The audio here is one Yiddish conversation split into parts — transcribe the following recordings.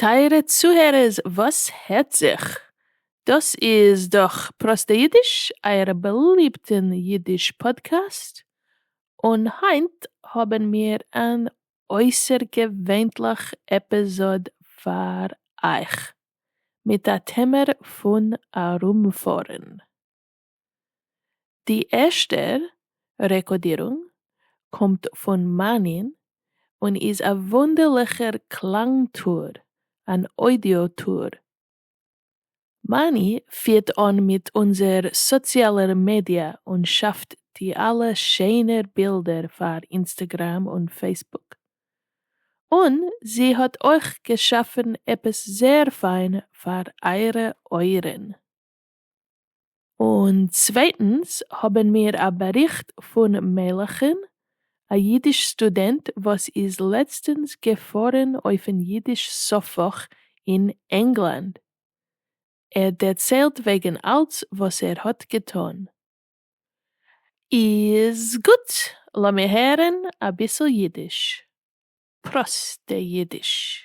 טייערע צוהערערס וואס הערט זיך? דאס איז דאך פראסטע אידיש, אייער באליבטן אידיש פאדקעסט, און היינט האבן מיר אן אויסערגעווענליך עפיזאד פאר אייך, מיט א טעמער פון ארומפארן. די ערשטע רעקאדירונג קומט פון מנין און איז א וואונדערליכער קלאנג טור, אן אודיאו טור מאני פירט אן מיט אונזער סאציאלער מידיע און שאפט די אלע שענער בילדער פאר אינסטעגרעם און פעיסבוק. און זי האט אויך געשאפן עפעס זעהר פיין פאר אייערע אויערן. און צווייטנס האבן מיר א באריכט פון מלחין, א אידיש סטודענט וואס איז לעצטנס געפארן אויפן אידיש סוף-וואך אין ענגלאנד, ער דערציילט וועגן אלץ וואס ער האט געטון. איז גוט, לאמיר הערן אביסל אידיש. פראסטע אידיש.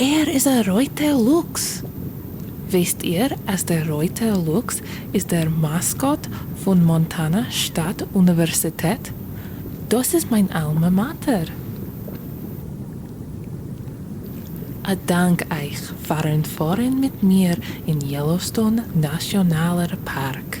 ער איז א רויטער לוקס! וויסט איר אז דער רויטער לוקס איז דער מאסקאט פון מאנטאנא שטאט אוניווערסיטעט? דאס איז מיין אלמא מאטער! א דאנק אייך פארן פארן מיט מיר אין יעלאוסטאון נאציאנאלער פארק!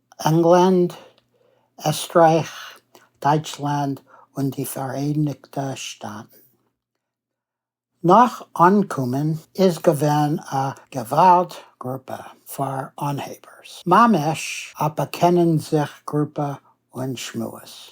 ענגלאנד, עסטרייך, דייטשלאנד און די פאראייניגטע שטאטן. נאך אנקומען איז געווען א געוואלד גרופע פאר אנהייבערס, ממש א באקענען זיך גרופע און שמועס.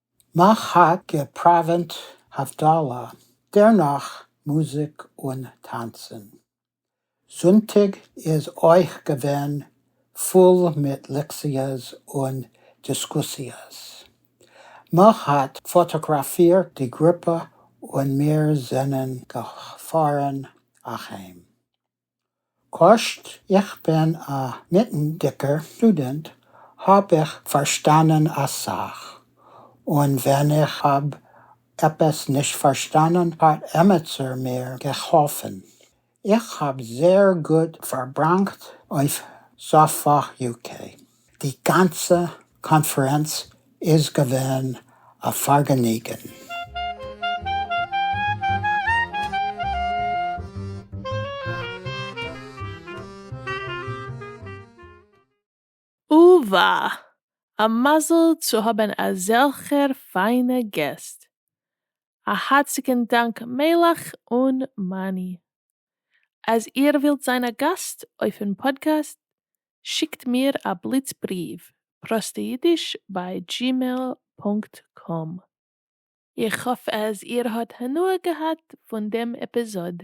מע האָט געפּראַװענט הבֿדלה, דערנאָך מוזיק און טאַנצן. זונטיק איז אױך געװען פֿול מיט לעקציעס און דיסקוסיעס. מע האָט פֿאָטאָגראַפֿירט די גרופּע און מיר זענען געפֿאָרן אַהײם. כאטש איך בין א מיטנדיגער סטודענט האב איך פארשטאנען אסאך, און ווען איך האב עפעס נישט פארשטאנען האט עמיצער מיר געהאלפן. איך האב זייער גוט פארבראנגט אויף סאפא יו קעי. די גאנצע קאנפרענץ איז געווען א פארגעניגען. אוה וואה! א מזל צו האבן אזעלכער פיינע געסט! א הארציגן דאנק מלך און מאני! אז איר ווילט זיין א גאסט אויפן פאדקעסט, שיקט מיר א בליץ בריוו, פראסטיידיש ביי דזשימעיל פונקט קאם. איך האף אז איר האט הנאה געהאט פון דעם עפיזאד.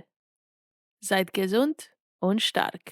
זייט געזונט און שטארק!